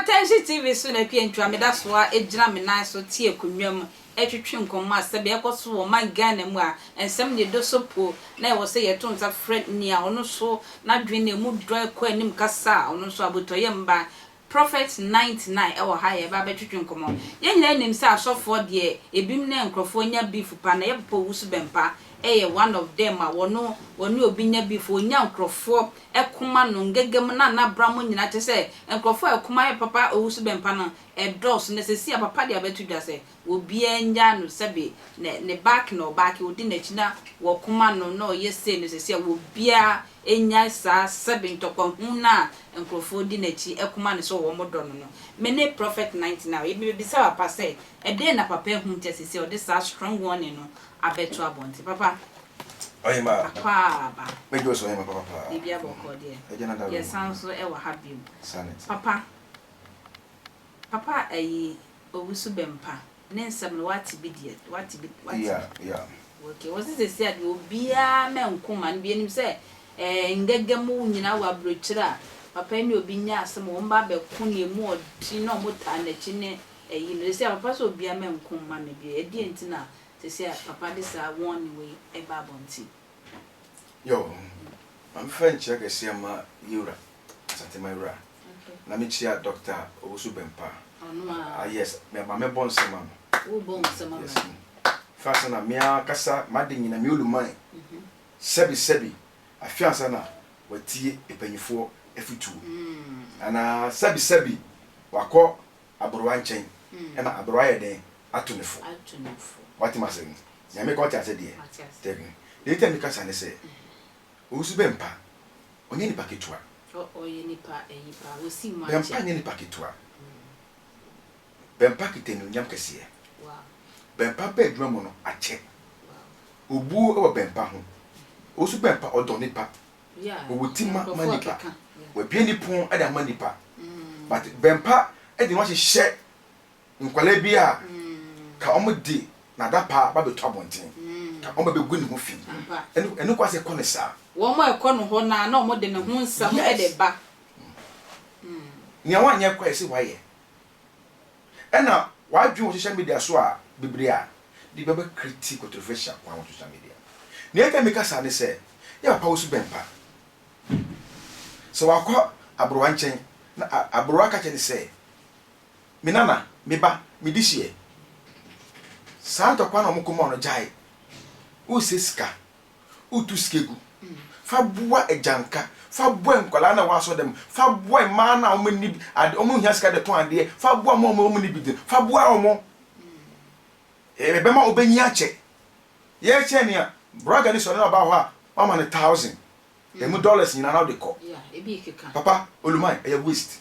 Atɛnhye TV so na Akua Ntua meda so ara gyina me nan so te akonnwa mu retwetwe nkɔmmɔ a sɛbe ɛkɔ so wɔ ɔman Ghana mu a nsɛm de dɔ so po na ɛwɔ sɛ yɛto nsa frɛ nea ɔno nso n'adwene na emu dɔ kɔ anim kasa a ɔno nso abotɔyam ba Prophet ninety nine ɛwɔ ha yɛ ba bɛ twetwe nkɔmɔ yɛn nyinaa nim sɛ asɔfoɔ deɛ ebim nɛ nkorɔfoɔ nya beef pa na yɛ papa owusu bɛmpa yɛ one of them a wɔno wɔne obi nya beef onya nkorɔfoɔ ɛkoma no ngɛgɛm na na bra mo nyinaa kyɛ sɛ nkorɔfoɔ ɛkoma yɛ papa owusu bɛmpa no ɛdɔɔso nɛ sɛsi a papa deɛ abɛto dwa sɛ obiara nnyaa no sɛbe ne ne back na ɔback odi n'akyi na wɔko ma no na ɔyɛ sei no sɛsi a obiara nnyae saa sɛbe ntɔkwahu no a nkurɔfoɔ di n'akyi ko ma no sɛ wɔn dɔ no no. Me ne Prophet Night Now yi mebɛbisa papa sɛ ɛdeɛn na papa ahu nti a sɛsi a ɔde saa strong warning no abɛto abɔnten. Papa Ɔhema akwaaba, mɛgye wo so Ɔhema papa paa. Biribia bɔkɔɔ deɛ. Agya na Dawuro Yɛsan nso wɔ ha bio. Sanet. Papa, papa ayi owusu bɛmpa ne nsɛm no wate bi deɛ wate bi wate bi okay wɔsi sɛsi a deɛ obiara mɛ nko ma no bi anim sɛ ɛɛ eh, ngɛgɛ mu nyinaa wɔ aburokyire a papa yi ne obi nya asɛm wɔn ba abɛko ne emu ɔden na wɔn taa n'akyi ne ɛyi no sɛsi a papa sɛ obiara mɛ nko ma no bi ɛdeɛ nti na sɛsi a papa de saa wɔn ne wei ɛba abɔnten. Yɔ, maame fɛ nkyerɛ kɛseɛ ma yɛwura. Asante Mawura na me kyia Doctor Owusu Bempah ah yes me ma me bɔ nsɛm ma no wo bɔ nsɛm ma yes fa sɛ na me ankasa ma de nyina me oluman sɛbi sɛbi afi ansa na watie epanyifoɔ afutuo anaa sɛbi sɛbi wakɔ aborowa nkyɛn ɛna aborowa ayɛ dɛn ato ne fo wate ma sɛ nyame ka ɔte ase deɛ tɛbi deɛ nti a me kasa ne sɛ Owusu Bɛmpa, ɔnyɛ nipa ketewa. Oh ɔyɛ nipa ɛyi paa, wosi mu akyɛ. Bɛmpa nyɛ nipa ketewa. Bɛmpa kita anuonyam kɛseɛ. Bɛmpa bɛ adwuma mu no akyɛ. Obuo wɔ Bɛmpa ho. Owusu Bɛmpa ɔdɔ nipa. Ɔwɔ ti ma ma nipa. W'abue ne pon de ama nipa. But Bɛmpa de ne ho ahyehyɛ. Nkwadaa bi a ka ɔmo de n'adapaa ba bɛtu abɔnten, ka ɔmo bɛgu ne ho fi. Ɛno ɛno kwasɛ kɔ ne saa. Wɔn a ɛkɔ no hɔ no ara na ɔmo de ne ho nsɛm de ba. Nea wanyɛ koraa yɛse wayɛ. Ɛna w'adwene wɔ social media so a bebree a de bi ɔbɛ create controversial kwan wɔ social media. Nea nti a meka saa ne sɛ yɛ papa wo su bɛn pa. Sɛ wakɔ abrowa nkyɛn na abrowa ka kyerɛ no sɛ Me nana, me ba, me di hyeɛ. Saa ntɔkwa na wɔn kɔn mu ano gyae. Wosɛ sika, wotu sika gu. Fa boa agyanka, fa boa nkwadaa na wɔasɔ dɛm, fa boa mmaa na wɔn ani ade, wɔn hia sika de tɔn adeɛ, fa boa wɔn a wɔn ani bi den, fa boa wɔn. Ɛbɛma wɔbɛnyi akyɛ. Yɛkyɛ ni a, brɔga ni sɔre na ɔbaa hɔ a, wɔama no thousand. Ɛmu dollars nyinaa na wode kɔ. Papa, oluman, ɛyɛ waste.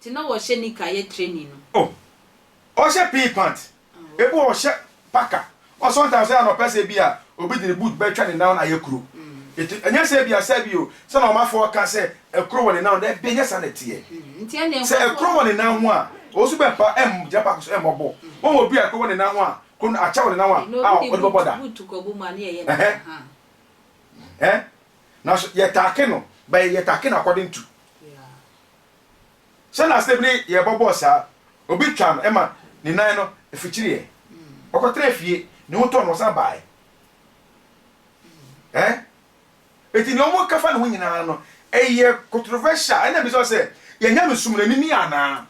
Nti na wɔhyɛ nika yɛ training no. Oh ɔhyɛ pee pant ebi wɔ hɔ ɔhyɛ packer ɔ sometimes sɛ anɔpa sɛ ebi a obi de ne boot bɛtwa ne nan na ayɛ kuro eti ɛnyɛ sɛ ebi a sɛ bi o sɛ na ɔmafoɔ ka sɛ ɛkuro wɔ ne nan daabi ɛnyɛ saa na ɛteɛ sɛ ɛkuro wɔ ne nan ho a ɔsu bɛ pa ɛm gyina paako so ɛmmɔ bɔɔl wɔn wɔ obi a ɛkuro wɔ ne nan ho a kuro no akyɛ wɔ ne nan ho a a ɔde bɛbɔ da ɛhɛn ɛhɛn nanso yɛ taake no bɛ yɛ taake no according to. Sɛ na asɛm no yɛ bɔbɔɔ saa, obi twaa no ma ne nan no fikyiriiɛ. Ɔkɔtenaa fie, ne ho tɔɔ no, ɔsan baeɛ. Ɛ? Enti deɛ wɔka fa ne ho nyinaa no, ɛyɛ controversial. Ɛna bisa wo sɛ, yɛn Nyame som no, ɛnim ni anaa?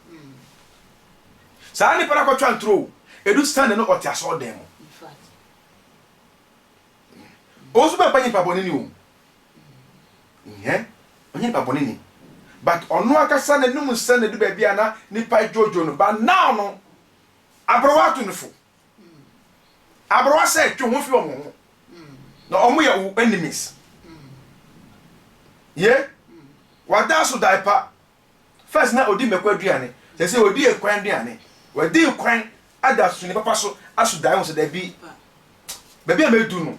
Saa nipa no akɔtwa ntoro o, ɛdu Sunday no ɔte asɔɔdan mu. Ɔnso bɛmpa nyimpa bɔne ni o. Nyɛ ɔnyɛ nipa bɔne ni but ɔno ankasa n'anum nsɛn na ɛdu baabi a na nipa dwoodwoo no but now no aberewa atu no fo aberewa sɛ twe ho fi wɔn ho na wɔn yɛ wo enemies ye wada so dae pa first na odi mmɛkɔ aduane sɛ sɛ odi ekwan aduane wadi kwan ada so ne papa so aso dae ho sɛ dabi baabi a mɛdu no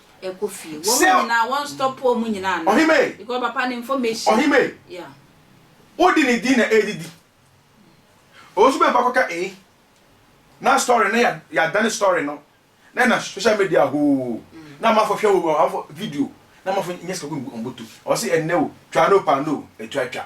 Sɛ ɔhemmea yi, wode ne din na ɛredidi. Ɔwɔ nso bɛba kɔka ee na story no yɛadane story no na ɛna social media hoo na amafo hwɛ hoo amafo video na amafo nyɛ sika gu wɔn bɔtɔ. Ɔwɔ sɛ ɛnɛ o, twa no pa no o, ɛtwa twa.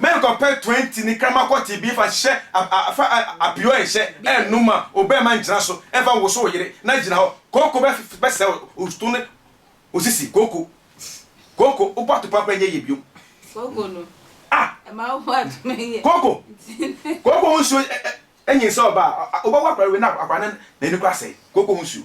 Menkɔpɛ twenty ne krama kɔte bi fa hyɛ fa apio ɛnhyɛ ɛnum ma obɛɛma ngyina so ɛnfa nwoso wo yere na gyina hɔ kooko bɛsɛe osto ne osisi kooko kooko wobɔ atopa kora nyɛ yie biom kooko no ah kooko kooko ho nsuo ɛnyin sɛ ɔbaa wobɛwɔ akora wei na akora ne n'ani kora sɛe kooko ho nsuo.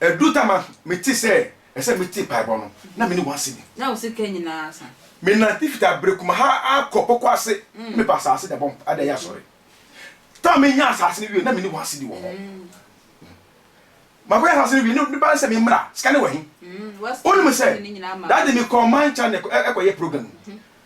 Edu da ma mete sɛ ɛsɛ metie mpaebɔ no, na menni one cedi. Na wo sika nyinaa asa. Menante fiti abere kumaha ara kɔ bɔkɔ ase na mepɛ asase de abɔ mpa de ayɛ asɔre. Da a menyaa asase no wiei, na menni one cedi wɔ hɔ. Makɔyɛ asase no wie no, ne ba ne sɛ memmra, sika no wɔ he? Wonim sɛ, Daddy mekɔɔ Mancha na ɛkɔyɛ program.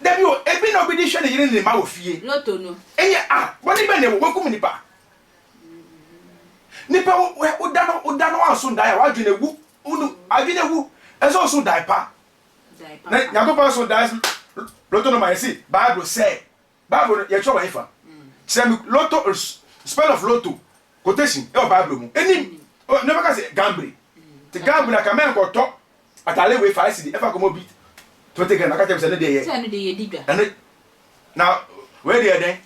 Da bi o, ebi na obi de hwɛ ne yere ne ne mma wɔ fie. Lotto no. Ɛnyɛ a, bɔne bɛn na ɛwɔ? Wɔakum nnipa. Nnipa wo, woda no, woda no anso dae a, w'adwene awu. Wonu, adwene awu. Ɛsɛ sɛ ɔso dae pa. Na Nyankopɔn so dae. Lotto no ma yɛse, Bible sɛe. Bible no yɛkyerɛ wɔ hefa? Kyerɛ me lotto spell of lotto quotation ɛwɔ bible mu ɛnim ne bɛka sɛ gamble te gamble aka mɛnkɔ tɔ atale wei five cedi ɛfa kɔmɔ bi twenty gram aka kyerɛ me sɛ ne deɛ yɛ ɛne na wei deɛ dɛn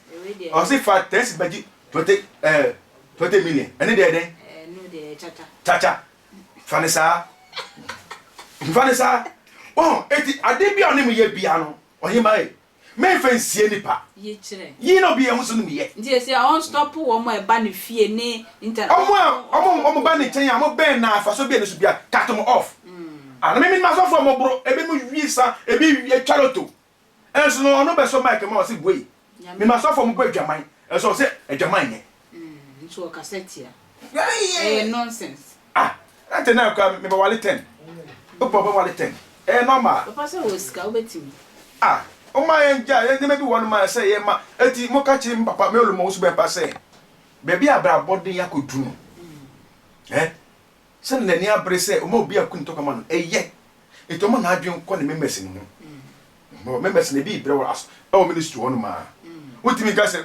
ɔsi fa ten cedi bɛgye twenty ɛɛ eh, twenty million ɛne deɛ dɛn kyakya fa ne saa fa ne saa wɔn eti ade bi a ɔne mu yɛ bia no ɔhemaa yi. Memmfa nsie nnipa. Yi na obi yɛ ho so no mu yɛ. Nti ese a ɔnstɔpo wɔn a ɛba ne fie ne internet. Wɔn a wɔn wɔn ba ne nkyɛn a wɔn bɛn no a faso bia ne so bia cut wɔn off. Ana me menim asɔfo a wɔboro, ebinom wie sa, ebi wie twa loto. Nso no ɔno bɛsɔ mic ma wɔn se bue. Menim asɔfo a wɔbɔ adwaman nso wɔn se adwaman nyɛ. Nso ɔkasa tia. Ɛyɛ nonsense. Ah na tɛn na kura mebɛ wale tɛn. Opa ɔbɛ wale tɛn. Ɛyɛ normal. Papa sɛ ɔwɔ sika wobɛtumi. Ah ɔma yɛn gya yɛn nneɛma bi wɔ nom a ɛsɛ yɛ ma ɛti mo ka kyerɛ mi papa me ɔlɔ mo nso bɛ pa sɛ bɛbi abrabɔ den akɔ du no eh sɛ na nani abere sɛ ɔma obi aku ne tɔka ma no ɛyɛ ɛti ɔma na adwen kɔ ne members no ho members na ebi brɛ wɔ ɛwɔ ministry hɔ nom a wotumi nka sɛ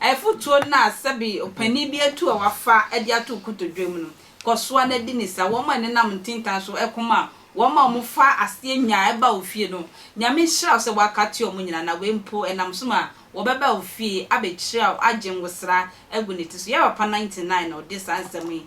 Afotuo no a sɛbe ɔpanin bi atu a wafa de ato nkotodwe mu no, kɔ so ara di no saa. Wɔn a ɛnenam ntintan so ko ma wɔn a wɔfa aseɛ nya ba wo fie no, Nyame nhyira wo sɛ woaka atua wɔn nyinaa na wei mpo ɛnam so ma wɔbɛba wo fie abɛkyira wo, agye ngosra agu ne ti so. Yɛrɛ papa 99 na ɔde saa nsɛm yi